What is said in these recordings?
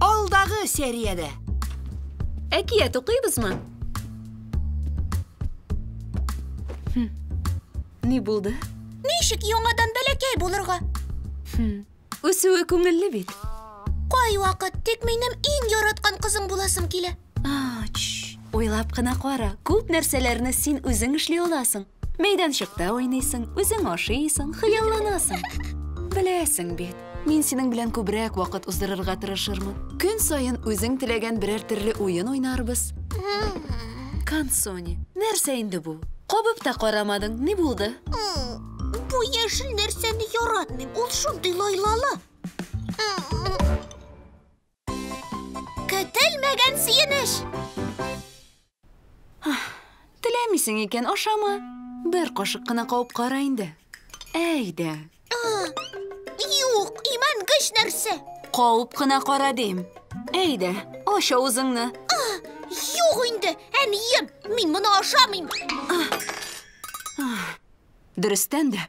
Алдагы сериядә. Әкият укыйбызмы? Хм. Ни булды? Ничек яңадан бәләкәй булырга? Хм. Үсүе күңелле бит. Кайвакыт тик минем иң яраткан кызым буласым килә. Ач. Уйлап кына кара, күп нәрсәләрне син үзең эшли аласың. Мәйданчыкта уйныйсың, үзең ашыйсың, хыялланасың. Беләсең бит, мин синең белән күбрәк вакыт уздырырга тырышырмын. Көн саен үзең теләгән берәр төрле уен уйнарбыз. Кансони, нәрсә инде бу? Кабып та карамадың, ни булды? Бу яшел нәрсәне яратмыйм, ул шундый лайлалы. Көтелмәгән сөенеш! Теләмисең икән, ашама. Бер кашык кына кабып кара инде. Әйдә. Юк, имән көч нәрсә. Кабып кына кара дим. Әйдә, ач авызыңны. Юк инде, әнием, мин моны ашамыйм. Дөрестән дә,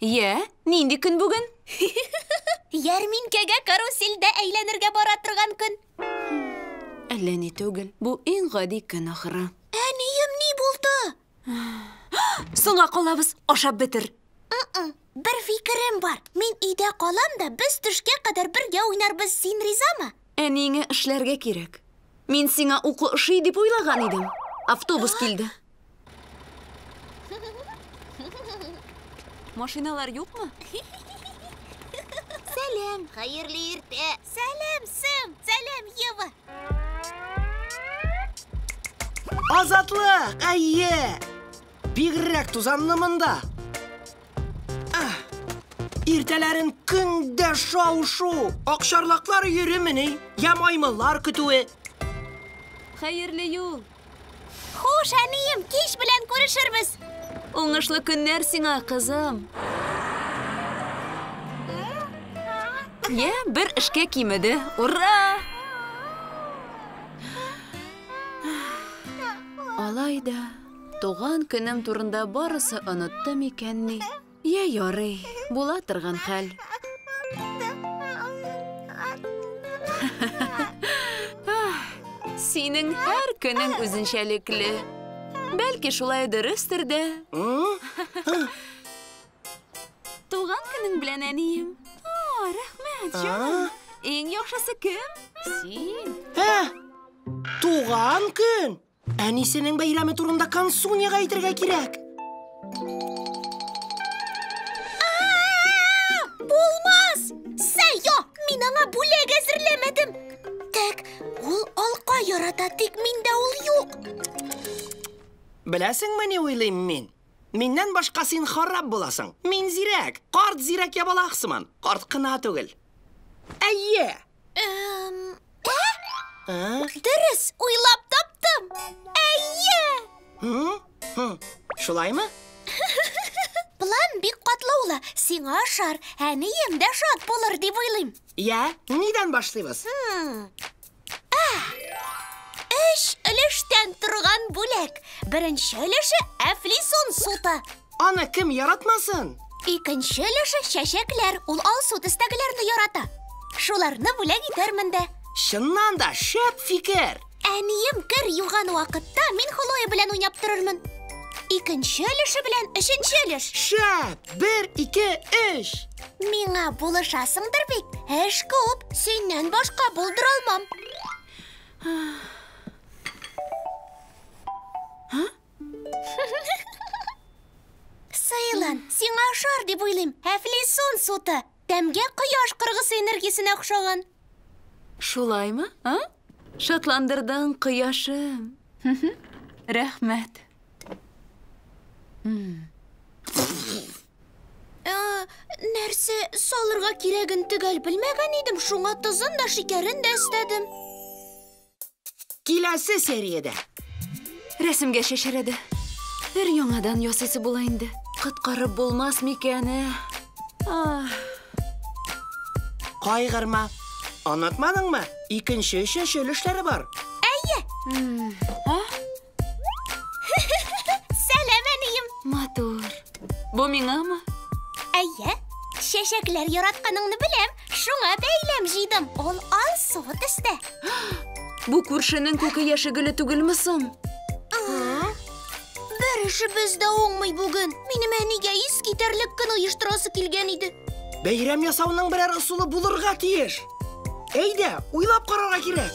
Йә, нинди көн бүген? Ярминкәгә карусельдә әйләнергә бара торган көн. Әллә ни түгел. Бу иң гади көн ахыры. Әнием ни булды? Соңга калабыз, ашап бетер. Бер фикерем бар. Мин өйдә калам да, без төшкә кадәр бергә уйнарбыз. Син ризамы? Әниеңә эшләргә кирәк. Мин сиңа уку ошый дип уйлаган идем. Автобус килде. Машиналар юкмы? Сәлем. Хәерле иртә. Сәлем, Сэм. Сәлем, Ева. Азатлык, әйе. Бигрәк тузанны монда. Ах, Иртәләрен көндә шау-шу, акчарлаклар йөремени, я маймыллар көтүе. Хәерле юл, Хуш, әнием, кич белән күрешербез. Уңышлы көннәр сиңа, кызым. Йә, бер эшкә кимеде. Ура! Алай да туган көнем турында барысы онытты микәнни? Йә, ярый, була торган хәл. Синең һәр көнең үзенчәлекле. Бәлки шулай дөрестер дә. Туган көнең белән, әнием. О, рәхмәт, җаным. Иң яхшысы кем? Син. Туган көн? Әнисенең бәйрәме турында Кансуньяга әйтергә кирәк. Булмас! Сәйо, мин аңа бүләк әзерләмәдем. Тәк, ул алка ярата, тик миндә ул юк. Беләсеңме ни уйлыйм мин? Миннән башка син харап буласың. Мин зирәк, карт зирәк ябалак сыман. Карт кына түгел. Әйе! Дөрес, уйлап таптым. Әйе! Шулаймы? План бик катлаулы. Сиңа ашар, әнием дә шат булыр дип уйлыйм. Я, нидән башлыйбыз? Өч өлештән торган бүләк. Беренче өлеше әфлисон суты. Аны кем яратмасын? Икенче өлеше чәчәкләр. Ул алсу төстәгеләрне ярата. Шуларны бүләк итәрмен дә. Чыннан да шәп фикер. Әнием кер юган вакытта мин Хлоя белән уйнап торырмын. Икенче өлеше белән өченче өлеш. Шәп! Бер, ике, өч! Миңа булышасыңдыр бит. Эш күп. Синнән башка булдыра алмам. Сайлан, сиңа ашар дип уйлыйм. Әфлисун суты. Тәмгә кояш кыргысы энергиясенә охшаган. Шулаймы, а? Шатландырдың, кояшым. Рәхмәт. Нәрсә салырга кирәген төгәл белмәгән идем, шуңа тозын да, шикәрен дә өстәдем. Киләсе сериядә. Рәсемгә шешерәде. Бер яңадан ясыйсы була инде. Коткарып булмас микән, ә? Ах. Кайгырма. Онытмадыңмы? Икенче, өченче өлешләре бар. Әйе. А? Сәлам, әнием! Матур. Бу миңамы? Әйе. Чәчәкләр яратканыңны беләм, шуңа бәйләм җыйдым. Ул ал суы төстә. Бу күршенең күке яше гөле түгелме соң? Бер эшебез дә уңмый бүген. Минем әнигә ис китәрлек көн оештырасы килгән иде. Бәйрәм ясауның берәр ысулы булырга тиеш. Әйдә, уйлап карарга кирәк.